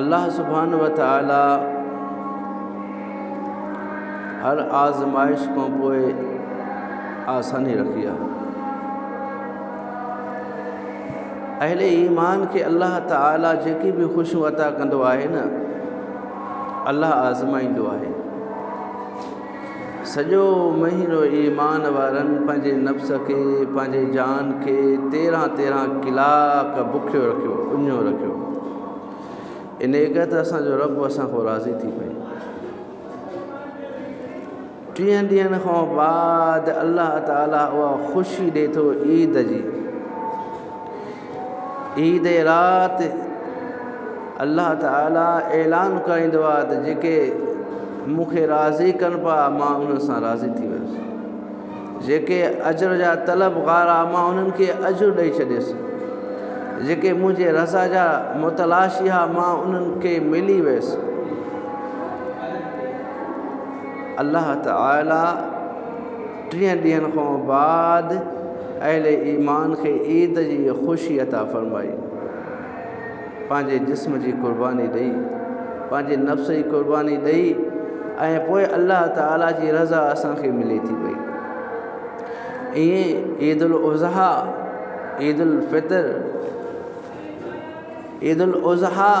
الله سبحانه وتعاليٰ هر آزمائش کان پوء آساني رکي آهي اهل ايمان کي الله تعاليٰ جيڪي به خوشيون عطا ڪندو آهي نه الله آزمائيندو آهي سڄو مهينو ايمان وارن پنهنجي نفس کي، پنهنجي جان کي، تيرهن تيرهن ڪلاڪ بکيو رکيو، اڃو رکيو. انهيء ڪري ته اسان جو رب اسان کان راضي ٿي پئي. ٽيهن ڏينهن کان بعد الله تعاليٰ اها خوشي ڏئي ٿو عيد جي. عيد جي رات الله تعالي اعلان ڪرائيندو آهي ته جيڪي مون کي راضي ڪن پيا مان انهن سان راضي ٿي ويس جيڪي اجر جا طلبگار آ مان انهن کي اجر ڏئي ڇڏيس جيڪي منهنجي رضا جا متلاشي آ مان انهن کي ملي ويس الله تعالي ٽيهن ڏينهن کان بعد اهل ايمان کي عيد جي خوشي عطا فرمائي، پنهنجي جسم جي قرباني ڏئي، پنهنجي نفس جي قرباني ڏئي ۽ پوء الله تعالي جي رضا اسان کي ملي ٿي پئي. ائين عيد الاضحيٰ، عيد الفطر، عيد الاضحيٰ،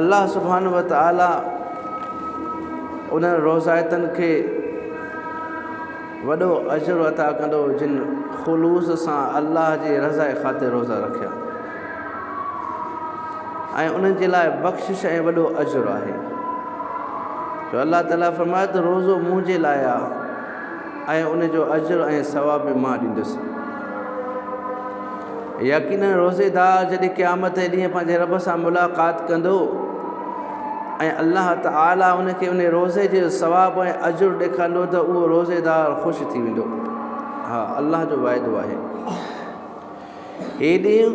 الله سبحانه وتعاليٰ انهن روضائتن کي وڏو اجر عطا ڪندو جن خلوص سان الله جي رضا خاطر روضا رکيا ۽ انهن جي لاء بخشش ۽ وڏو اجر آهي جو الله تعاليٰ فرمائي ته روضو منهنجي لاء ۽ ان جو اجر ۽ ثواب به مان ڏيندس. يقيناً روزيدار جڏهن قيامت جي ڏينهن پنهنجي رب سان ملاقات ڪندو ۽ الله تعالي ان کي ان روزي جي ثواب ۽ اجر ڏيکارندو ته اهو روزيدار خوش ٿي ويندو. ها الله جو واعدو آهي. هي ڏينهن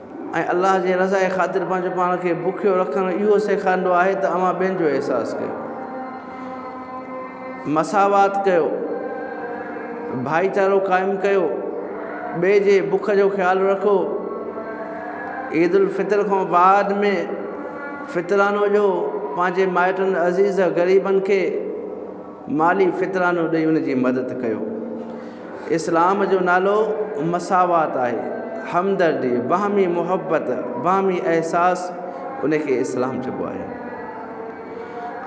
۽ الله جي رضا جي خاطر پنهنجو پاڻ کي بکيو رکڻ اهو سيکاريندو آهي ته اوهان ٻين جو احساس ڪيو، مساوات ڪيو، ڀائيچارو قائم ڪيو، ٻئي جي بک جو خيال رکو. عيد الفطر کان بعد ۾ فطران هجو پنهنجي مائٽن عزيز غريبن کي مالي فطرانو ڏئي ان جي مدد ڪيو. اسلام جو نالو مساوات آهي، همدردي، باهمي محبت، باهمي احساس ان کي اسلام چئبو آهي.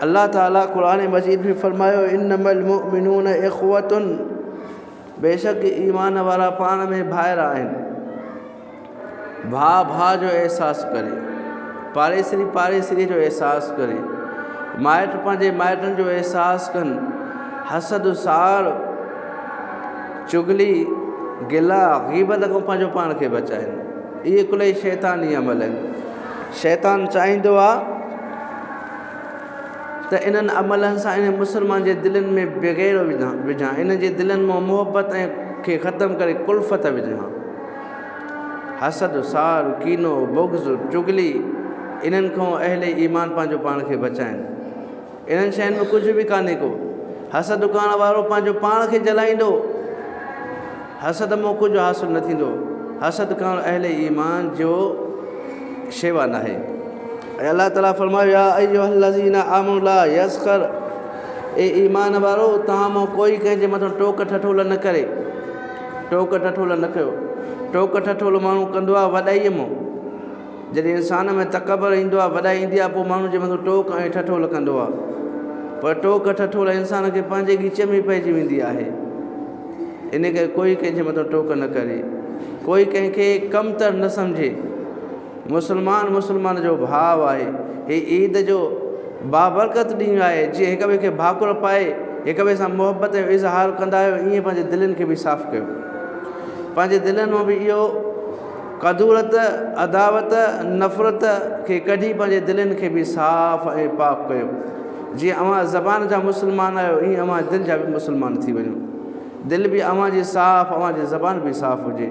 الله تعالي قرآن مجيد ۾ فرمايو انما المؤمنون اخوة بيشڪ ايمان وارا پاڻ ۾ ڀائر آهن. ڀاء ڀاء جو احساس ڪري، پاڙيسري پاڙيسري جو احساس ڪري، مائٽ پنهنجي مائٽن جو احساس ڪن، حسد ساڙ چغلي گلا غيبت کان پنهنجو پاڻ کي بچائن. اهي ڪلهي شيطاني عمل آهن. شيطان چاهيندو آهي ته انهن عملن سان انهن مسلمانن جي دلين ۾ بغيڙو وجهان، انهن جي دلين مان محبت ۽ کي ختم ڪري ڪلفت وجهان. حسد، سار، ڪينو، بغض، چغلي، انهن کان اهل ايمان پنهنجو پاڻ کي بچائين. انهن شين ۾ ڪجهه به ڪانهي ڪو. حسد ڪرڻ وارو پنهنجو پاڻ کي جلائيندو. حسد مان ڪجهه حاصل نه ٿيندو. حسد ڪرڻ اهل ايمان جو شيوا ناهي. ۽ الله تعالي فرمايو، يا ايها الذين آمنوا لا يسخر اي ايمان وارؤ! توهان مان ڪوئي ڪنهن جي مٿان ٽوڪ ٺٺولا نه ڪري. ٽوڪ ٺٺول نه ڪيو. ٽوڪ ٺٺول ماڻهو ڪندو آهي وڏائيء مون. جڏهن انسان ۾ تڪبر ايندو آهي، وڏائي ايندي آهي، پوء ماڻهو جي مٿان ٽوڪ ۽ ٺٺول ڪندو آهي. پر ٽوڪ ٺٺول انسان کي پنهنجي ڳچيء ۾ ئي پئجي ويندي آهي. انهيء ڪري ڪوئي ڪنهن جي مٿان ٽوڪ نه ڪري. ڪوئي ڪنهن کي ڪمتر نه سمجهي. مسلمان مسلمان جو ڀاء آهي. هي عيد جو بابرڪت ڏينهن آهي، جيئن هڪ ٻئي کي ڀاڪر پائي هڪ ٻئي سان محبت جو اظهار ڪندا آهيو ائين پنهنجي دلين کي به صاف ڪيو. پنهنجي دلين مان به اهو ڪدورت، عداوت، نفرت کي ڪڍي پنهنجي دلين کي به صاف ۽ پاڪ ڪيو. جيئن اوهان زبان جا مسلمان آهيو ائين اوهان دل جا به مسلمان ٿي وڃو. دل به اوهان جي صاف، اوهان جي زبان به صاف هجي.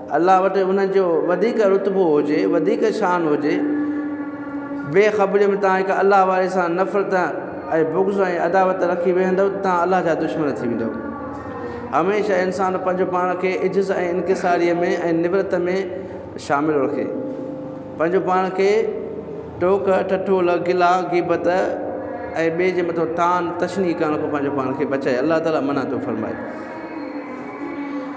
الله وٽ انهن جو وڌيڪ رتبو هجي، وڌيڪ شان هجي، بي خبريء ۾ توهان هڪ الله واري سان نفرت ۽ بغض ۽ عداوت رکي ويهندؤ ته توهان الله جا دشمن ٿي ويندؤ. هميشه انسان پنهنجو پاڻ کي عجز ۽ انڪساريء ۾ ۽ نورت ۾ شامل رکي. پنهنجو پاڻ کي ٽوڪ، ٺٺول، گلا، غيبت ۽ ٻئي جي مٿان طعن، تشنيع ڪرڻ کان پنهنجو پاڻ کي بچائي. الله تعاليٰ منع ٿو فرمائي.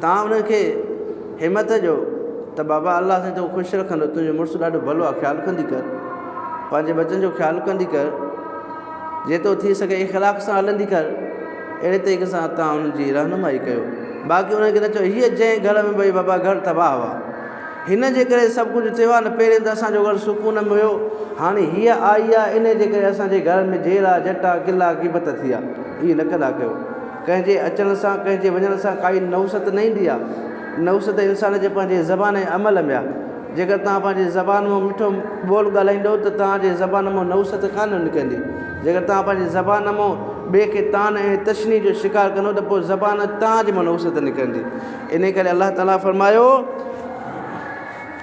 تان انهن کي همت ڏيو ته بابا الله سائين تون خوش رکندو تنهنجو مڙس ڏاڍو ڀلو آ خيال ڪندي ڪر پنهنجي ٻچن جو خيال ڪندي ڪر جيترو ٿي سگهي اخلاق سان هلندي ڪر اهڙي طريقي سان تان انهن جي رهنمائي ڪيو باقي انهن کي نه چئو هيء جنهن گهر ۾ ڀئي بابا گهر تباهه هئا هن جي ڪري سڀ ڪجهه ٿيو آ نه پهرين ته اسان جو گهر سڪون ۾ هيو هاڻي هيء آئي آ انهي جي ڪري اسان جي گهر ۾ جهيڙا جهٽا قلعا غيبت ٿي آ اهي نه ڪندا ڪيو. ڪنهن جي اچڻ سان ڪنهن جي وڃڻ سان ڪائي نحوست نه ايندي آهي. نحوست انسان جي پنهنجي زبان ۽ عمل ۾ آهي. جيڪر توهان پنهنجي زبان مون مٺو ٻول ڳالهائيندو ته توهان جي زبان مون نحوست ڪانه نڪرندي. جيڪر توهان پنهنجي زبان مون ٻئي کي طعن ۽ تشنيع جو شڪار ڪندو ته پوء زبان توهان جي مون نحوست نڪرندي. انهيء ڪري الله تعاليٰ فرمايو.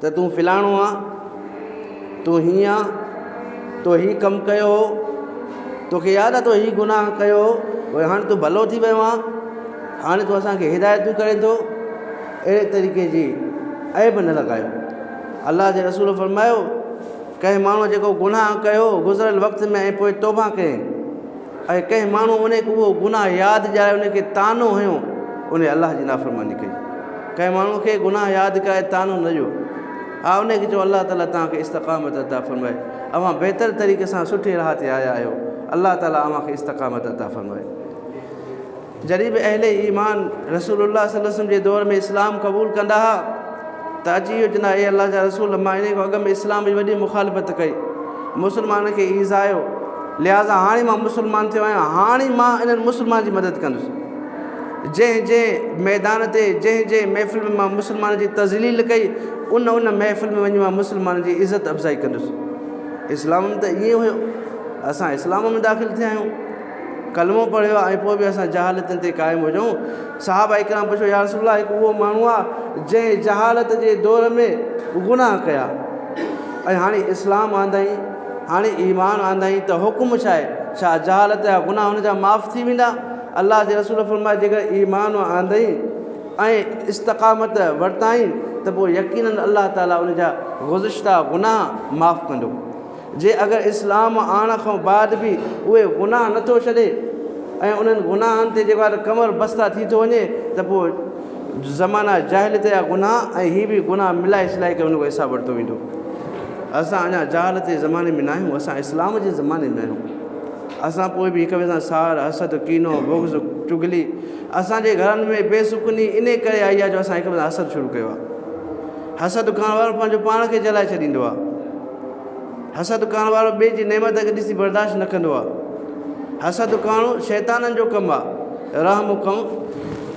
ته تون فلاڻو آن، تون هيئن آن، تو هي ڪم ڪيو هو، توکي ياد آ تو هي گناهه ڪيو هو، پر هاڻ تون ڀلو ٿي ويو آن، هاڻ تون اسان کي هدايتون ڪرين ٿو، اهڙي طريقي جي عيب نه لڳايو. الله جي رسول فرمايو، ڪنهن ماڻهوء جيڪو گناهه ڪيو هو گذريل وقت ۾ ۽ پوء توبهه ڪيائين. ۽ ڪنهن ماڻهو ان کي اهو گناهه ياد ڏياري ان کي طعنو هنيو ان الله جي نافرماني ڪئي ڪنهن ماڻهو کي گناهه ياد ڪرائي طعنو نه ڏيو ها ان کي چئو الله تعاليٰ توهان کي استقامت عطا فرمائي اوهان بهتر طريقي سان سٺي راهه تي آيا آهيو الله تعاليٰ اوهان کي استقامت عطا فرمائي. جڏهن به اهل ايمان رسول الله صلي وسلم جي دور ۾ اسلام قبول ڪندا ها ته اچي اهو چوندا اي الله جا رسول مان انهي کان اڳ ۾ اسلام جي وڏي مخالفت ڪئي مسلمانن کي ايذايو لهذا هاڻي مان مسلمان ٿيو آهيان هاڻي مان انهن مسلمان جي مدد ڪندس جنهن جنهن ميدان تي جنهن جنهن محفل ۾ مان مسلمان جي تذليل ڪئي ان ان محفل ۾ وڃي مان مسلمان جي عزت افزائي ڪندس اسلام ۾ ته ائين هيو اسان اسلام ۾ داخل ٿيا آهيون ڪلمو پڙهيو آ ۽ پوء به اسان جهالتن تي قائم هجون؟ صحابه ڪرام پڇيو، يا رسول الله هڪ اهو ماڻهو آ جنهن جهالت جي دور ۾ گناهه ڪيا ۽ هاڻي اسلام آندائين، هاڻي ايمان آندائين ته حڪم ڇا آهي؟ ڇا جهالت جا گناهه هن جا معاف ٿي ويندا؟ الله جي رسول فرمايو، جيڪڏهن ايمان آندائين ۽ استقامت ورتائين ته پوء يقيناً الله تعاليٰ ان جا گذشته گناهه معاف ڪندو. جي اگر اسلام آڻڻ کان بعد به اهي گناهه نه ٿو ڇڏي ۽ انهن گناهن تي جيڪو آهي ڪمر بسته ٿي ٿو وڃي ته پوء زمانه جاهليت جا گناهه ۽ هي به گناهه ملائي سلائي ڪري ان کان حساب ورتو ويندو. اسان اڃا جهالت جي زماني ۾ ناهيون اسان اسلام جي زماني ۾ آهيون. اسان پوء به هڪ ٻئي سان ساڙ، حسد، ڪينو، بغض، چغلي اسان جي گهرن ۾ بي سڪوني انهي ڪري آئي آهي جو اسان هڪ ٻئي سان حسد شروع ڪيو آهي. حسد ڪرڻ وارو پنهنجو پاڻ کي جلائي ڇڏيندو آهي. حسد ڪرڻ وارو ٻئي جي نعمت کي ڏسي برداشت نه ڪندو آهي. حسد ڪرڻ شيطانن جو ڪم آهي. رحم ڪرڻ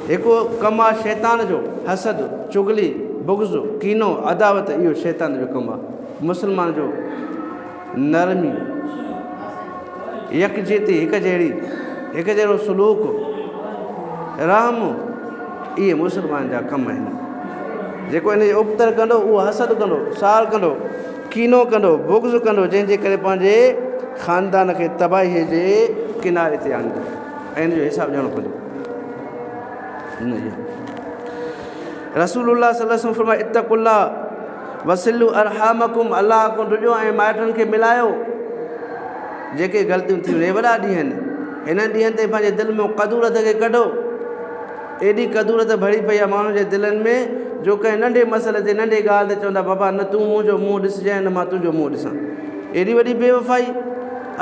هڪ ڪم آهي شيطان جو. حسد، چغلي، بغض، ڪينو، عداوت اهو شيطان جو ڪم آهي. مسلمان جو نرمي. يڪجهتي، هڪ جهڙي، هڪ جهڙو سلوڪ، رحم اهي مسلمان جا ڪم آهن. جيڪو ان جي ابتڙ ڪندو اهو حسد ڪندو، سار ڪندو، ڪينو ڪندو، بغض ڪندو جنهن جي ڪري پنهنجي خاندان کي تباهيء جي ڪناري تي آڻيندو ۽ ان جو حساب ڏيڻو پوندو. رسول الله صلي الله عليه وسلم فرمايو اتقوا الله وصلوا ارحامکم الله کان ڊڄو ۽ مائٽن کي ملايو جيڪي غلطيون ٿيون هي وڏا ڏينهن آهن هنن ڏينهن تي پنهنجي دل ۾ قدورت کي ڪڍو ايڏي قدورت ڀري پئي آهي ماڻهن جي دلن ۾ جو ڪنهن ننڍي مسئلي تي ننڍي ڳالهه تي چوندا بابا نه تون منهنجو منهن ڏسجانء نه مان تنهنجو منهن ڏسان ايڏي وڏي بيوفائي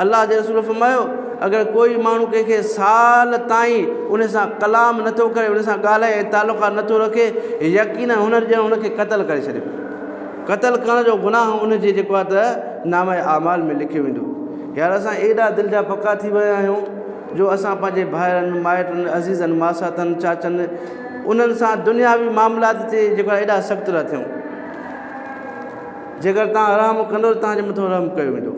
الله جي رسول فرمايو، اگر ڪوئي ماڻهو ڪنهن کي سال تائين ان سان ڪلام نه ٿو ڪري، ان سان ڳالهه ۽ تعلقات نه ٿو رکي، يقينن هن ڄڻ ان کي قتل ڪري ڇڏيو. قتل ڪرڻ جو گناهه ان جي جيڪو آهي ته نامه اعمال ۾ لکيو ويندو. يار اسان ايڏا دل جا پڪا ٿي ويا آهيون جو اسان پنهنجي ڀائرن، مائٽن، عزيزن، ماساتن، چاچن انهن سان دنياوي معاملات تي جيڪو آهي ايڏا سخت ٿا ٿيون. جيڪر توهان رحم ڪندو ته توهان جي مٿان رحم ڪيو ويندو،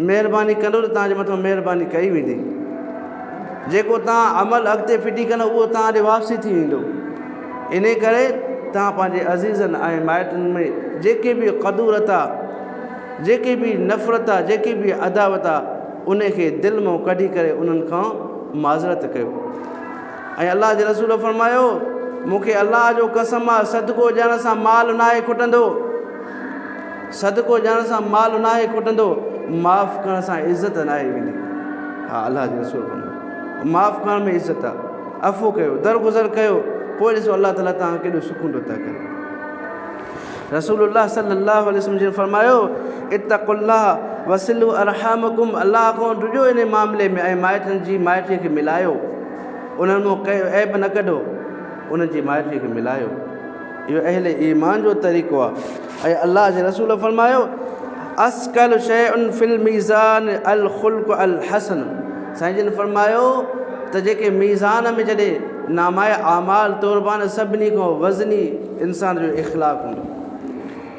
مهرباني ڪندو ته توهان جي مٿان مهرباني ڪئي ويندي. جيڪو توهان عمل اڳتي ڦٽي ڪندو اهو توهان ڏي واپسي ٿي ويندو. انهيء ڪري توهان پنهنجي عزيزن ۽ مائٽن ۾ جيڪي به قدورت آ، جيڪي به نفرت آ، جيڪي به عداوت آ، انهيء کي دل مان ڪڍي ڪري انهن کان معذرت ڪيو. ۽ الله جي رسول فرمايو، مون کي الله جو قسم آ صدقو ڏيڻ سان مال ناهي کٽندو، صدقو ڏيڻ سان مال ناهي کٽندو، معاف ڪرڻ سان عزت ناهي ويندي. ها الله جي رسول فرمايو، معاف ڪرڻ ۾ عزت آ، عفو ڪيو، درگذر ڪيو، پوء ڏسو الله تعالي توهان کي ڪيڏو سڪون عطا ڪري. رسول الله صلي الله عليه وسلم جن فرمايو، اتقوا الله وصلوا ارحامڪم الله کان ڊڄو انهي معاملي ۾ ۽ مائٽن جي مائٽيء کي ملايو. انهن مان ڪنهن جو عيب نه ڪڍو، انهن جي مائٽيء کي ملايو، اهو اهل ايمان جو طريقو آهي ۽ الله جي رسول فرمايو، اثقل شيء في الميزان الخلق الحسن سائين جن فرمايو ته جيڪي ميزان ۾ جڏهن نامهء اعمال توربان سڀني کان وزني انسان جو اخلاق هوندو.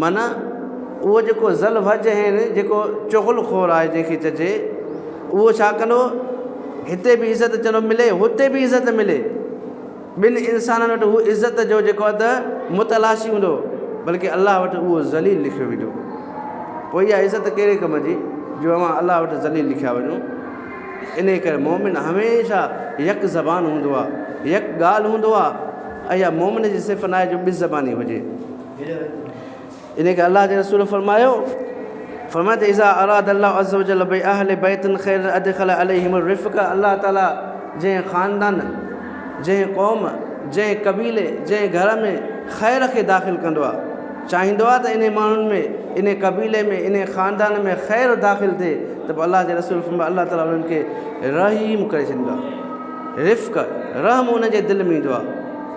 معنيٰ، اهو جيڪو ذل وجهين، جيڪو چغل خور آهي جنهن کي چئجي، اهو ڇا ڪندو؟ هتي به عزت چئنو ملي، هتي به عزت ملي. ٻن انسانن وٽ هو عزت جو جيڪو اٿ متلاشي هوندو، بلڪه الله وٽ اهو ذليل لکيو ويندو. پوء اها عزت ڪهڙي ڪم جي، جو اوهان الله وٽ ذليل لکيا وڃو. انهيء ڪري مؤمن هميشه يڪ زبان هوندو آهي، يڪ ڳالهه هوندو آهي. اها مؤمن جي صفت ناهي جو ٻه زباني هجي. ان کي الله جي رسول فرمايو فرمايو ته اذا اراد الله عز وجل بي اهل بيت خير ادخل عليهم الرفق الله تعالي جنهن خاندان جنهن قوم جنهن قبيلي جنهن گهر ۾ خير کي داخل ڪندو آ چاهيندو آ ته انهي ماڻهن ۾ انهي قبيلي ۾ انهي خاندان ۾ خير داخل ٿئي ته پوء الله جي رسول فرمايو الله تعالي انهن کي رحيم ڪري ڇڏيندو آ رفق رحم ان جي دل ۾ ايندو آ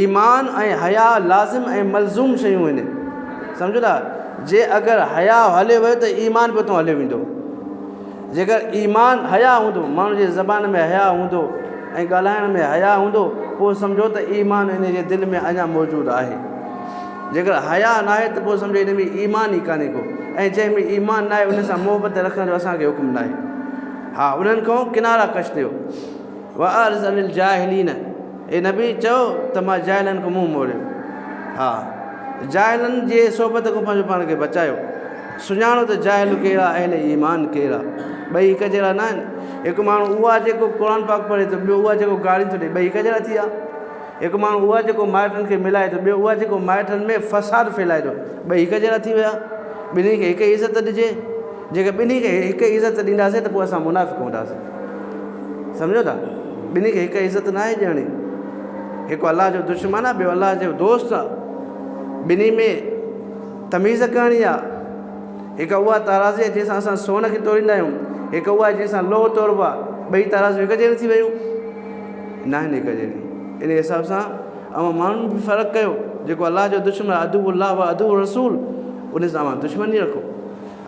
ايمان ۽ حياء لازم ۽ ملزوم شيون آهن سمجهو ٿا جي اگر حياء هلي ويو ته ايمان به اتو هليو ويندو جيڪر ايمان حياء هوندو ماڻهو جي زبان ۾ حياء هوندو ۽ ڳالهائڻ ۾ حياء هوندو پوء سمجهو ته ايمان ان جي دل ۾ اڃا موجود آهي جيڪر حياء نه آهي ته پوء سمجهو ان ۾ ايمان ئي ڪانهي ڪو ۽ جنهن ۾ ايمان نه آهي ان سان محبت رکڻ جو اسانکي حڪم نه آهي ها انهن کان ڪنارا ڪش ٿيو وارض الجاهلين اي نبي! چؤ ته مان جاهلن کان منهن موڙيو ها. جاهلن جي صحبت کان پنهنجو پاڻ کي بچايو. سڃاڻو ته جاهل ڪهڙا اهل ايمان ڪهڙا ٻئي هڪ جهڙا نه آهن. هڪ ماڻهو اهو آهي جيڪو قرآن پاڪ پڙهي ته ٻيو اهو آهي جيڪو گاريون ٿو ڏئي ٻئي هڪ جهڙا ٿي ويا. هڪ ماڻهو اهو آهي جيڪو مائٽن کي ملائي ٿو ٻيو اهو آهي جيڪو مائٽن ۾ فساد ڦهلائي ٿو ٻئي هڪ جهڙا ٿي ويا. ٻنهي کي هڪ ئي عزت ڏجي. جيڪڏهن ٻنهي کي هڪ ئي عزت ڏينداسين ته پوء اسان منافق هونداسين. سمجهو ٿا؟ ٻنهي کي هڪ عزت ناهي ڏيڻي. هڪ الله جو دشمن آهي، ٻيو الله جو دوست آهي. ٻنهي ۾ تميز ڪرڻي آهي. هڪ اها ترازي آهي جنهن سان اسان سون کي توليندا آهيون، هڪ اها آهي جنهن سان لوهه تولبو آهي. ٻئي ترازيون هڪ جهڙيون ٿي ويون؟ ناهن هڪ جهڙيون. ان حساب سان اوهان ماڻهو به فرق ڪيو. جيڪو الله جو دشمن عدو الله و عدو رسول ان سان اوهان دشمني رکو.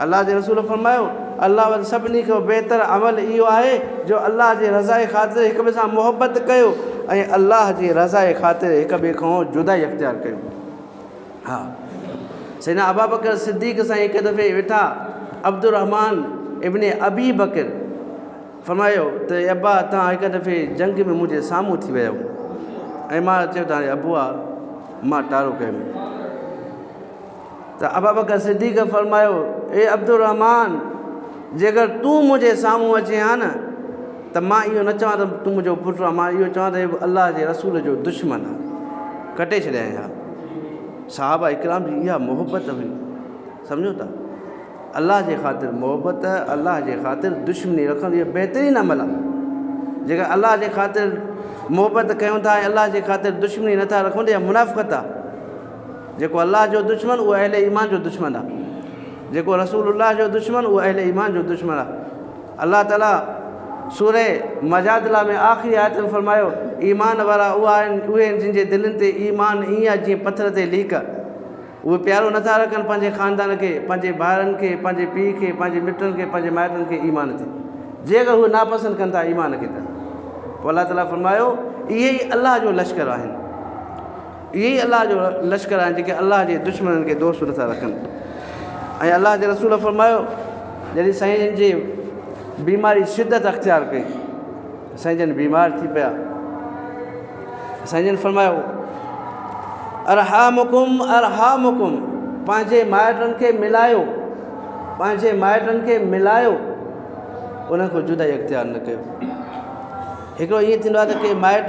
الله جي رسول فرمايو، الله وٽ سڀني کان بهتر عمل اهو آهي جو الله جي رضائي خاطر هڪ ٻئي سان محبت ڪيو ۽ الله جي رضائي خاطر هڪ ٻئي کان جدائي اختيار ڪيو. ها سيدنا ابابڪر صديق سائين هڪ دفعي ويٺا عبدالرحمان ابن ابي بڪر فرمايو ته اي ابا توهان هڪ دفعي جنگ ۾ منهنجي سامهون ٿي ويا آهيو ۽ مان چيو ته هاڻي ابو آ مان ٽارو ڪيم ته ابوبڪر صديق فرمايو، اي عبدالرحمان! جيڪر تون منهنجي سامهون اچين ها نه ته مان اهو نه چوان ته تون منهنجو پٽ آهين، مان اهو چوان ته هي الله جي رسول جو دشمن آهي. ڪٽي ڇڏيائين ها. صحابه اڪرام جي اها محبت هئي. سمجهو ٿا؟ الله جي خاطر محبت، الله جي خاطر دشمني رکڻ اهو بهترين عمل آهي. جيڪر الله جي خاطر محبت ڪيون ٿا ۽ الله جي خاطر دشمني نٿا رکون ته اها منافقت آهي. جيڪو الله جو دشمن اهو اهل ايمان جو دشمن آهي جيڪو رسول الله جو دشمن اهو اهل ايمان جو دشمن آهي الله تعالی سوري مجادلا ۾ آخري آيت ۾ فرمايو ايمان وارا اها آهن اهي آهن جن جي دلين تي ايمان ائين آهي جيئن پٿر تي ليڪ اهي پيارو نٿا رکن پنهنجي خاندان کي پنهنجي ڀائرن کي پنهنجي پيء کي پنهنجي مٽن کي پنهنجي مائٽن کي ايمان تي جي اگر اهي ناپسند ڪن ٿا ايمان کي ته پوء الله تعالیٰ فرمايو اهي ئي الله جو لشڪر آهن اهي ئي الله جو لشڪر آهن جيڪي الله جي دشمنن کي دوست نٿا رکن ۽ الله جي رسول فرمايو جڏهن سائين جي بيماري شدت اختيار ڪئي سائين جن بيمار ٿي پيا سائين جن فرمايو ارحامڪم ارحامڪم پنهنجي مائٽن کي ملايو پنهنجي مائٽن کي ملايو انهن کي جدائي اختيار نه ڪيو هڪڙو ائين ٿيندو آهي ته ڪي مائٽ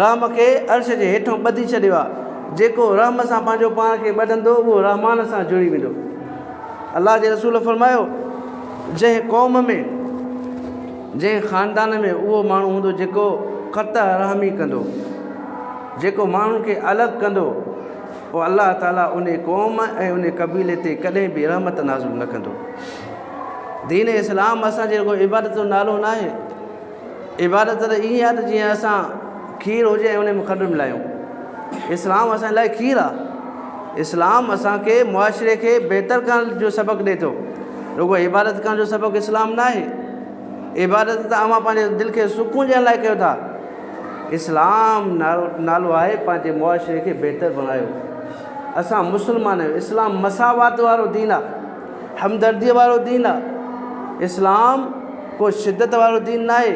رحم کي عرش جي هيٺون ٻڌي ڇڏيو آهي. جيڪو رحم سان پنهنجو پاڻ کي ٻڌندو اهو رحمان سان جڙي ويندو. الله جي رسول فرمايو، جنهن قوم ۾، جنهن خاندان ۾ اهو ماڻهو هوندو جيڪو قطع رحمي ڪندو، جيڪو ماڻهن کي الڳ ڪندو، پوء الله تعالي ان قوم ۽ ان قبيلي تي ڪڏهن به رحمت نازل نه ڪندو. دين اسلام اسان جي رڳو عبادت جو نالو ناهي. عبادت ته ائين آهي ته جيئن اسان کير هجي ۽ ان ۾ کنڊ ملايون. اسلام اسان لاء کير آهي. اسلام اسان کي معاشري کي بهتر ڪرڻ جو سبق ڏئي ٿو. رڳو عبادت ڪرڻ جو سبق اسلام نه آهي. عبادت ته اوهان پنهنجي دل کي سڪون ڏيڻ لاء ڪيو ٿا. اسلام نالو نالو آهي پنهنجي معاشري کي بهتر بڻايو. اسان مسلمان آهيون. اسلام مساوات وارو دين آهي. همدرديء وارو دين آ. اسلام ڪو شدت وارو دين ناهي.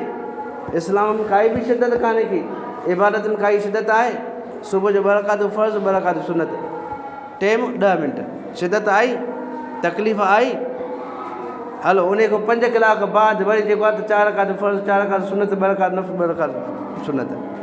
اسلام ۾ ڪائي به شدت ڪانهي ڪي. عبادت ۾ ڪائي شدت آهي؟ صبح جو ٻه رڪعتون فرض ٻه رڪعتون سنت. ٽيم ڏهه منٽ. شدت آئي؟ تڪليف آئي؟ هلو انهي کان پنج ڪلاڪ بعد وري جيڪو آهي ته چار رڪعتون فرض چار رڪعتون سنت ٻه رڪعتون نفل ٻه رڪعتون سنت.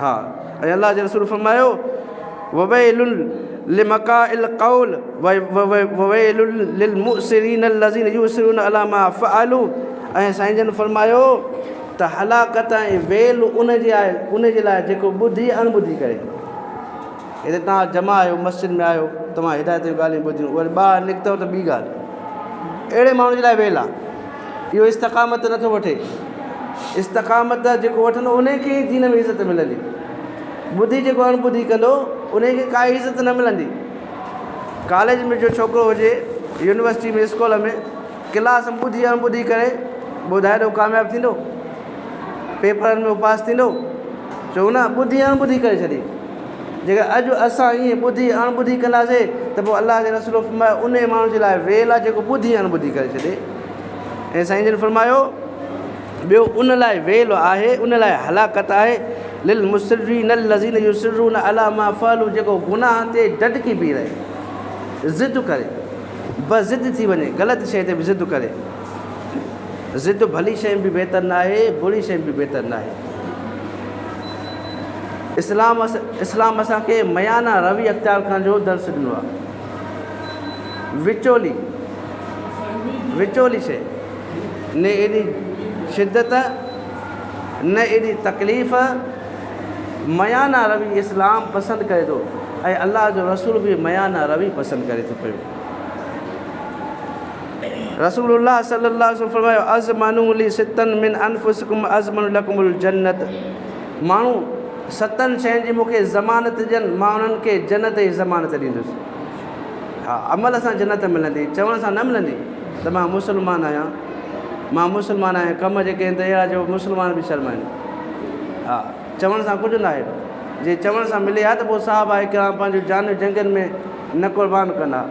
ها ۽ الله جي رسول فرمايو، وويل لمقاء القول وويل للمؤسرين الذين يؤسرون علي ما فعلوا ۽ سائين جن فرمايو ته هلاڪت ۽ ويل ان جي آهي ان جي لاء جيڪو ٻڌي اڻ ٻڌي ڪري هتي توهان جمع آهيو مسجد ۾ آهيو توهان هدايت جون ڳالهيون ٻڌيون وري ٻاهر نڪتو ته ٻي ڳالهه اهڙي ماڻهو جي لاء ويل آهي اهو استقامت نٿو وٺي. استقامت جيڪو وٺندو انهي کي ئي دين ۾ عزت ملندي. ٻڌي جيڪو اڻ ٻڌي ڪندو انهي کي ڪائي عزت نه ملندي. ڪاليج ۾ جو ڇوڪرو هجي، يونيورسٽي ۾ اسڪول ۾ ڪلاس ۾ ٻڌي اڻ ٻڌي ڪري ٻڌايو ته هو ڪامياب ٿيندو؟ پيپرن ۾ هو پاس ٿيندو؟ چئو نه ٻڌي اڻ ٻڌي ڪري ڇڏي. جيڪڏهن اڄ اسان ائين ٻڌي اڻ ٻڌي ڪنداسين ته پوء الله جي رسول فرمايو انهي ماڻهو جي لاء ويل آهي جيڪو ٻڌي اڻ ٻڌي ڪري ڇڏي ۽ سائين جن فرمايو ٻيو ان لاء ويل آهي ان لاء هلاڪت آهي لل مصرين الذين يصرون على ما فعلوا جيڪو گناهن تي ڊٽڪي بيهي رهي ضد ڪري بس ضد ٿي وڃي غلط شيء تي به ضد ڪري ضد ڀلي شيء به بهتر ناهي بري شيء به بهتر ناهي اسلام اسلام اسان کي ميانه روي اختيار ڪرڻ جو درس ڏنو آهي. وچولي وچولي شيء نه ايڏي شدت نه ايڏي تڪليف ميانه روي اسلام پسند ڪري ٿو ۽ الله جو رسول به ميانه روي پسند ڪري ٿو پيو رسول الله صلي الله عليه وسلم فرمايو ازمنو لي ستن من انفسکم ازمن لکم الجنت ماڻهو ستن شين جي مون کي ضمانت ڏين مان انهن کي جنت جي ضمانت ڏيندس ها عمل سان جنت ملندي چوڻ سان نه ملندي ته مان مسلمان آهيان مان مسلمان آهيان ڪم جيڪي آهن اهڙا جو مسلمان به شرمائن ها چوڻ سان ڪجهه ناهي جي چوڻ سان ملي ها ته پوء صاحب آهي ڪرام پنهنجون جانيون جنگن ۾ نه قربان ڪن ها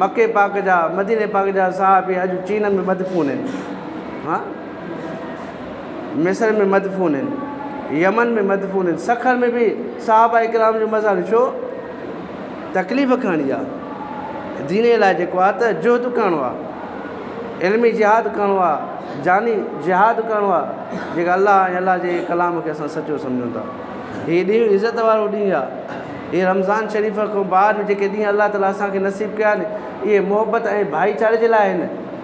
مکي پاڪ جا مديني پاڪ جا صاحب اڄ چين ۾ مدفون آهن ها مصر ۾ مدفون هن. يمن ۾ مدفون هن. سکر ۾ به صحابه ڪرام جو مزار ڇو تڪليف کڻڻي آ. دين لاء جيڪو آ ته جهد ڪرڻو آ. علمي جهاد ڪرڻو آ. جاني جهاد ڪرڻو آ. جيڪا الله ۽ الله جي ڪلام کي اسان سچو سمجهون ٿا. هي ڏينهن عزت وارو ڏينهن آ. هي رمضان شريف کان بعد جيڪي ڏينهن الله تعالي اسان کي نصيب ڪيا آهن اهي محبت ۽ ڀائيچاري جي لاء آهن.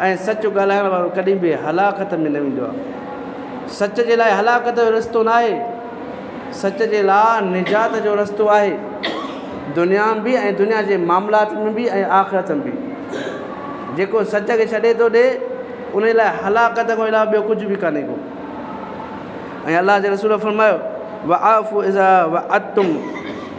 ۽ سچ ڳالهائڻ وارو ڪڏهن به هلاڪت ۾ نه ويندو آهي. سچ جي لاء هلاڪت جو رستو ناهي، سچ جي لاء نجات جو رستو آهي، دنيا ۾ به ۽ دنيا جي معاملات ۾ به ۽ آخرت ۾ به. جيڪو سچ کي ڇڏي ٿو ڏي، انهي لاء هلاڪت کان علاوه ٻيو ڪجهه به ڪانهي ڪو. ۽ الله جي رسول فرمايو، واعفوا اذا وعدتم.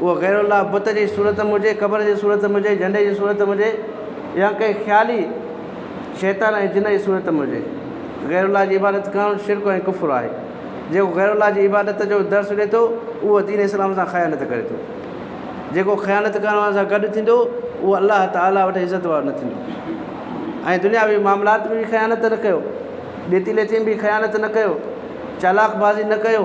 اهو غير الله بت جي صورت ۾ هجي، قبر جي صورت ۾ هجي، جهنڊي جي صورت ۾ هجي يا ڪنهن خيالي شيطان ۽ جن جي صورت ۾ هجي. غير الله جي عبادت ڪرڻ شرڪ ۽ ڪفر آهي. جيڪو غير الله جي عبادت جو درس ڏي ٿو، اهو دين اسلام سان خيانت ڪري ٿو. جيڪو خيانت ڪرڻ وارن سان گڏ ٿيندو، اهو الله تعاليٰ وٽ عزت وارو نه ٿيندو. ائين دنياوي معاملات ۾ به خيانت نه ڪيو، ڏيتي ليتي ۾ به خيانت نه ڪيو، چالاڪ بازي نه ڪيو.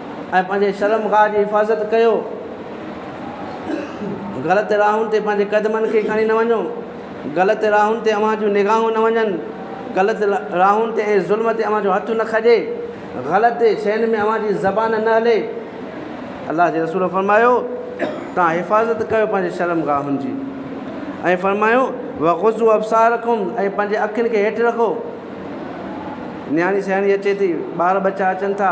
۽ پنهنجي شرم گاهه جي حفاظت ڪيو، غلط راهن تي پنهنجي قدمن کي کڻي نه وڃو، غلط راهن تي اوهان جون نگاهون نه وڃن، غلط راهن تي ۽ ظلم تي اوهان جو هٿ نه کڄي، غلط شين ۾ اوهان جي زبان نه هلي. الله جي رسول فرمايو، توهان حفاظت ڪيو پنهنجي شرم گاهن جي ۽ فرمايو، وغضوا ابصارکم ۽ پنهنجي اکين کي هيٺ رکو. نياڻي سياڻي اچي ٿي، ٻار ٻچا اچن ٿا.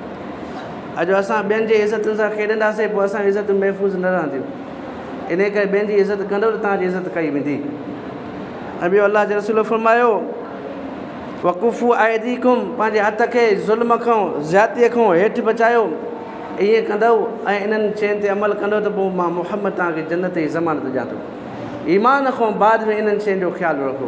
اڄ اسان ٻين جي عزتن سان کيڏنداسين پوء اسان جون عزتون محفوظ نه رهنديون انهيء ڪري ٻين جي عزت ڪندو ته توهان جي عزت ڪئي ويندي ۽ ٻيو الله جي رسول فرمايو وقوفو عيديڪم پنهنجي هٿ کي ظلم کان زيادتيء کان هيٺ بچايو ائين ڪندو ۽ انهن شين تي عمل ڪندو ته پوء مان محمد توهان کي جنت جي ضمانت ڏيان ٿو ايمان کان بعد ۾ انهن شين جو خيال رکو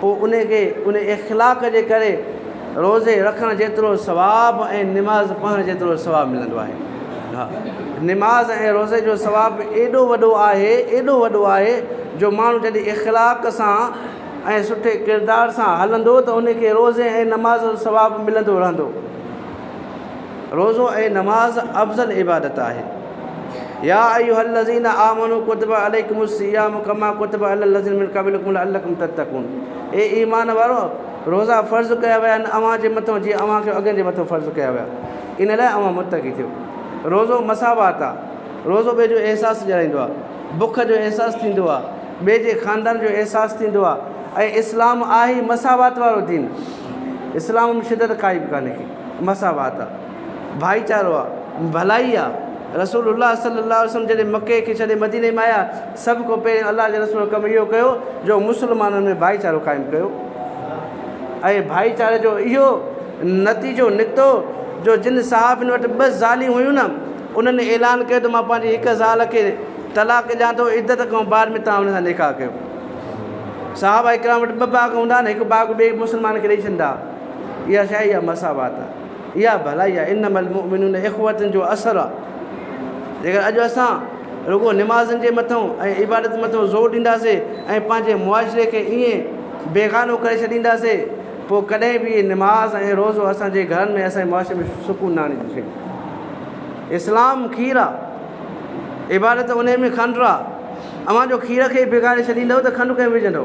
پوء ان کي ان اخلاق جي ڪري روزي رکڻ جيترو ثواب ۽ نماز پڙهڻ جيترو ثواب ملندو آهي. ها نماز ۽ روزي جو ثواب ايڏو وڏو آهي، ايڏو وڏو آهي جو ماڻهو جڏهن اخلاق سان ۽ سٺي ڪردار سان هلندو ته ان کي روزي ۽ نماز جو ثواب ملندو رهندو. روزو ۽ نماز افضل عبادت آهي. يا ايها الذين آمنوا ڪتب عليکم الصيام ڪما ڪتب علي الذين من قبلکم لعلکم تتقون اي ايمان وارؤ! روزا فرض ڪيا ويا آهن اوهان جي مٿان جيئن اوهان کي اڳين جي مٿان فرض ڪيا ويا. ان لاء اوهان متقي ٿيو. روزو مساوات آهي. روزو ٻئي جو احساس ڄاڻائيندو آهي. بک جو احساس ٿيندو آهي. ٻئي جي خاندان جو احساس ٿيندو آهي ۽ اسلام آهي ئي مساوات وارو دين. اسلام ۾ شدت ڪائي به ڪانهي ڪي. مساوات آ، ڀائيچارو آ، ڀلائي آ، رسول الله صلي الله عليه وسلم جڏهن مڪي کي ڇڏي مديني ۾ آيا سڀ کان پهرين الله جي رسول ڪم اهو ڪيو جو مسلمانن ۾ ڀائيچارو قائم ڪيو ۽ ڀائيچاري جو اهو نتيجو نڪتو جو جن صحابين وٽ ٻه زاليون هيون نه انهن اعلان ڪيو ته مان پنهنجي هڪ زال کي طلاق ڏيان ٿو عدت کان بعد ۾ تان ان سان نڪاح ڪيو صحابه اڪرام وٽ ٻه باغ هوندا آهن هڪ باغ ٻئي مسلمان کي ڏئي ڇڏندا اها ڇا اها مساوات آهي اها ڀلائي آهي انما المؤمنون اخوة جو اثر آهي جيڪر اڄ اسان رڳو نمازن جي مٿون ۽ عبادت مٿون زور ڏينداسي ۽ پنهنجي معاشري کي ائين بيگانو ڪري ڇڏينداسي پوء ڪڏهن به نماز ۽ روزو اسانجي گهرن ۾ اسانجي معاشري ۾ سڪون نه آڻي سگهندو اسلام کير آهي عبادت ان ۾ کنڊ آهي اوهان جو کير کي بگاڙي ڇڏيندو ته کنڊ ڪئين وجهندو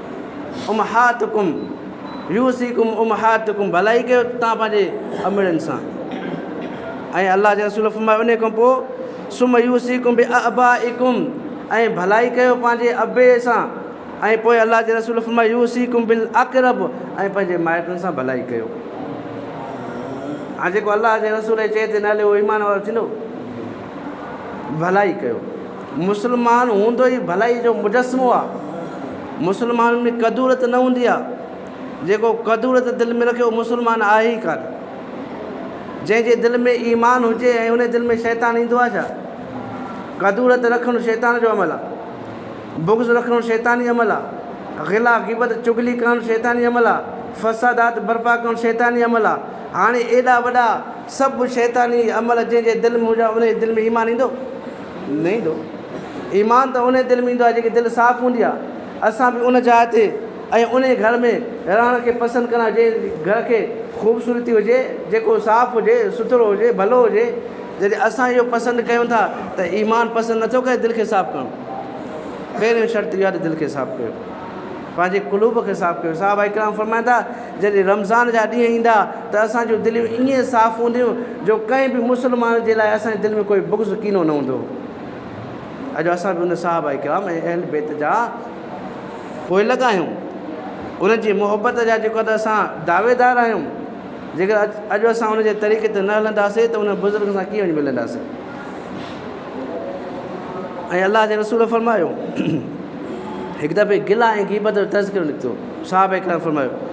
امهاتڪم يوصيڪم امهاتڪم ڀلائي ڪيو تان پنهنجي امڙن سان ۽ الله جي رسول فرمايو ان کان پوء سم يوصيڪم به ابائڪم ۽ ڀلائي ڪيو پنهنجي ابي سان ۽ پوء الله جي رسول فرمايو يوصيڪم بل اقرب ۽ پنهنجي مائٽن سان ڀلائي ڪيو هاڻي جيڪو الله جي رسول چئي تي نه هليو ايمان وارو ٿيندو ڀلائي ڪيو مسلمان هوندو ئي ڀلائي جو مجسمو آ. مسلمانن ۾ ڪدورت نه هوندي آ. جيڪو ڪدورت دل ۾ رکي اهو مسلمان آهي ئي ڪانه. جنهن جي دل ۾ ايمان هجي ۽ انهي دل ۾ شيطان ايندو آ ڇا؟ ڪدورت رکڻ شيطان جو عمل آ. بغض رکڻ شيطاني عمل آ. غلا غيبت چغلي ڪرڻ شيطاني عمل آ. فسادات برپا ڪرڻ شيطاني عمل آ. هاڻي ايڏا وڏا سڀ شيطاني عمل جنهن جي دل ۾ هجن انهي جي دل ۾ ايمان ايندو؟ نه ايندو. ايمان ته انهيء دل ۾ ايندو آهي جيڪي دل صاف هوندي آهي. اسان به ان جاء تي ۽ انهيء گهر ۾ رهڻ کي پسند ڪندا آهيون جنهن گهر کي خوبصورتي هجي، جيڪو صاف هجي، سٿرو هجي، ڀلو هجي. جڏهن اسان اهو پسند ڪيون ٿا ته ايمان پسند نٿو ڪري دل کي صاف ڪرڻ. پهريون شرط اهو آهي ته دل کي صاف ڪيو. پنهنجي قلوب کي صاف ڪيو. صحابه ڪرام فرمائن ٿا جڏهن رمضان جا ڏينهن ايندا. ته اسان جون دليون ائين صاف هونديون جو ڪنهن به مسلمان جي لاء اسان جي دل ۾ ڪوئي بغض ڪينو نه هوندو اڄ اسان به ان صحابه ڪرام ۽ اهل بيت جا پوئي لڳا آهيون انهن جي محبت جا جيڪو ته اسان دعويدار آهيون جيڪر اڄ اڄ اسان ان جي طريقي تي نه هلنداسي ته ان بزرگ سان ڪيئن وڃي ملنداسي ۽ الله جي رسول فرمايو هڪ دفعي گلا ۽ غيبت جو تذڪرو نڪتو صحابه ڪرام فرمايو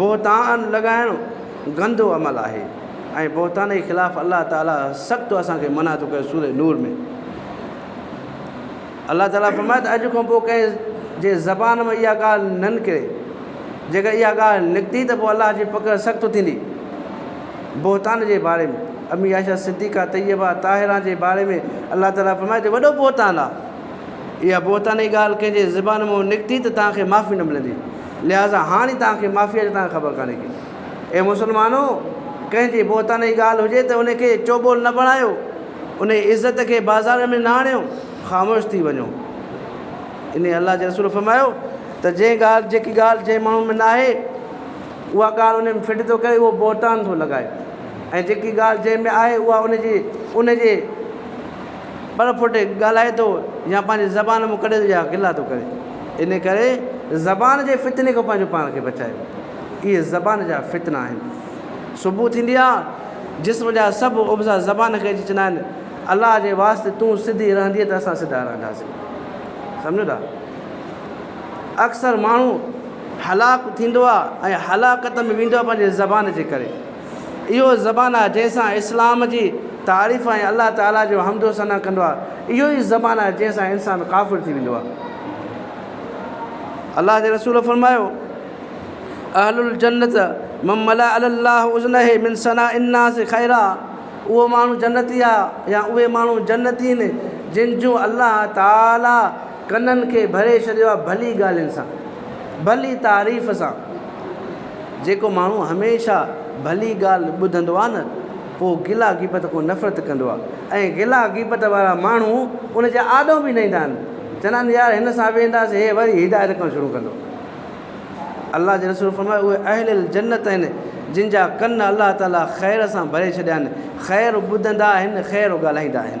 بهتان لڳائڻ گندو عمل آهي ۽ بهتان جي خلاف الله تعالي سخت اسان کي منع ٿو ڪري سورة نور ۾ الله تعالي فرمائي ته اڄ کان پوء ڪنهن جي زبان ۾ اها ڳالهه نه نڪري جيڪر اها ڳالهه نڪتي ته پوء الله جي پڪڙ سخت ٿيندي بهتان جي باري ۾ امي عائشه صديقه طيبه طاهران جي باري ۾ الله تعالي فرمائي ته وڏو بهتان آ اها بهتاني ڳالهه ڪنهن جي زبان مان نڪتي ته توهان کي معافي نه ملندي. لهٰذا هاڻي توهان کي معافيء جو توهان کي خبر ڪانهي ڪي. اي مسلمانو! ڪنهن جي بهتاني ڳالهه هجي ته ان کي چوٻول نه بڻايو، ان جي عزت کي بازارن ۾ نه آڻيو، خاموش ٿي وڃو. ان الله جي رسول فرمايو ته جنهن ڳالهه، جيڪي ڳالهه جنهن ماڻهو ۾ ناهي، اها ڳالهه ان ۾ فٽ ٿو ڪري، اهو بهتان ٿو لڳائي ۽ جيڪي ڳالهه جنهن ۾ آهي، اها ان جي، ان جي. ٻر ڦٽي ڳالهائي ٿو يا پنهنجي زبان مون ڪڙيل جا گلا ٿو ڪري. ان ڪري زبان جي فتني کان پنهنجو پاڻ کي بچايو. اهي زبان جا فتنا آهن. صبح ٿيندي آ جسم جا سڀ عضا زبان کي اچي چوندا آهن الله جي واسطي تون سڌي رهندينء ته اسان سڌا رهنداسين. سمجهو ٿا؟ اڪثر ماڻهو هلاڪ ٿيندو آ ۽ هلاڪت ۾ ويندو آ پنهنجي زبان جي ڪري. اهو زبان آهي جنهن سان اسلام جي تعريف ۽ الله تعاليٰ جو حمد و ثنا ڪندو آهي. اهو ئي زبان آهي جنهن سان انسان ڪافر ٿي ويندو آهي. الله جي رسول فرمايو، اهل الجنت من ملأ الله اذنه من ثناء الناس خيرا اهو ماڻهو جنتي آهي يا اهي ماڻهو جنتي آهن جن جون الله تعاليٰ ڪنن کي ڀري ڇڏيو آهي ڀلي ڳالهين سان، ڀلي تعريف سان. جيڪو ماڻهو هميشه ڀلي ڳالهه ٻڌندو آهي نه پوء گلا غيبت کان نفرت ڪندو آهي ۽ گلا غيبت وارا ماڻهو ان جي آڏو به نه ايندا آهن، چوندا آهن يار هن سان ويهنداسين هي وري هدايت ڪرڻ شروع ڪندو. الله جي رسول فرمايو اهي اهل الجنت آهن جن جا ڪن الله تعالي خير سان ڀري ڇڏيا آهن، خير ٻڌندا آهن خير ڳالهائيندا آهن.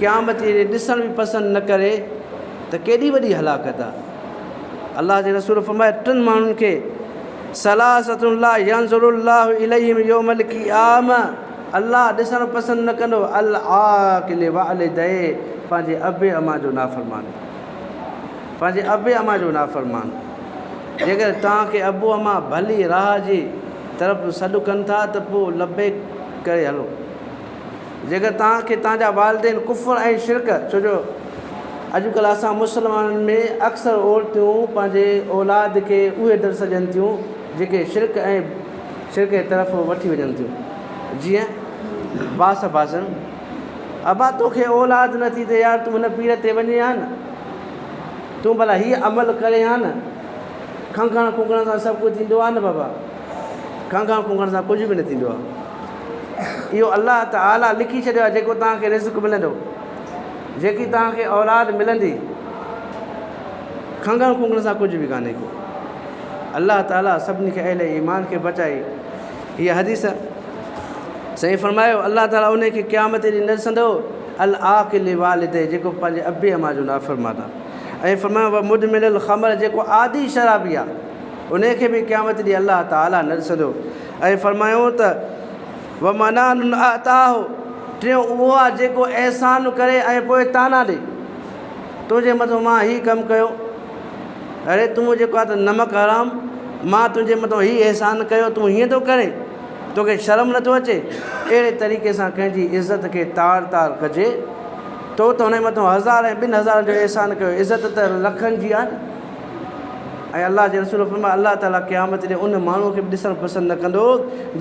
قيامت جي ڏي ڏسڻ به پسند نه ڪري ته ڪيڏي وڏي هلاڪت آهي. الله جي رسول فرمايو ٽن ماڻهن کي ثلاثة لا ينظر الله اليهم يوم القيامة الله ڏسڻ پسند نه ڪندو العاق لوالديه پنهنجي اب اما جو نافرمان پنهنجي اب اما جو نافرمان جيڪڏهن توهان کي ابو اما ڀلي راهه جي طرف سڏ ڪن ٿا ته پوء لبيڪ ڪري هلو. جيڪر توهان کي توهان جا والدين ڪفر ۽ شرڪ ڇو جو اڄڪلهه اسان مسلمانن ۾ اڪثر عورتيون پنهنجي اولاد کي اهي درس ڏين ٿيون جيڪي شرڪ ۽ شرڪ جي طرف وٺي وڃن ٿيون جيئن باس باسن ابا توکي اولاد نه ٿي ته يار تون هن پير تي وڃي ها نه تون ڀلا هي عمل ڪري ها نه کنگهڻ کنگهڻ سان سڀ ڪجهه ٿيندو آهي نه بابا کنگهڻ کنگهڻ سان ڪجهه به نه ٿيندو آهي اهو الله تعاليٰ لکي ڇڏيو آهي جيڪو توهان کي رزق ملندو، جيڪي توهان کي اولاد ملندي، کنگهڻ کنگهڻ سان ڪجهه به ڪانهي ڪو. الله تعاليٰ سڀني کي اهل ايمان کي بچائي هي حديث سائين فرمايو الله تعاليٰ ان کي قيامت ڏينهن نه ڏسندو العاقل والدي جيڪو پنهنجي ابي اما جو نافرمان آهي ۽ فرمايو و مدمن الخمر جيڪو عادي شرابي آهي ان کي به قيامت ڏينهن الله تعاليٰ نه ڏسندو ۽ فرمايو ته، ومنان اعطاه، ٽيون اهو آهي جيڪو احسان ڪري ۽ پوء طعنا ڏي. تنهنجي مٿان مان هي ڪم ڪيو، اڙي تون جيڪو آهين ته نمڪ حرام، مان تنهنجي مٿان هي احسان ڪيو تون هيئن ٿو ڪرين، توکي شرم نٿو اچي؟ اهڙي طريقي سان ڪنهن جي عزت کي تار تار ڪجي، تو ته هن جي مٿان هزار ۽ ٻن هزارن جو احسان ڪيو، عزت ته لکن جي آهي نه. ۽ الله جي رسول فرمايو، الله تعالي قيامت ڏينهن ان ماڻهوء کي به ڏسڻ پسند نه ڪندو،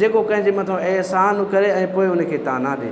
جيڪو ڪنهن جي مٿان احسان ڪري ۽ پوء ان کي طعنا ڏي.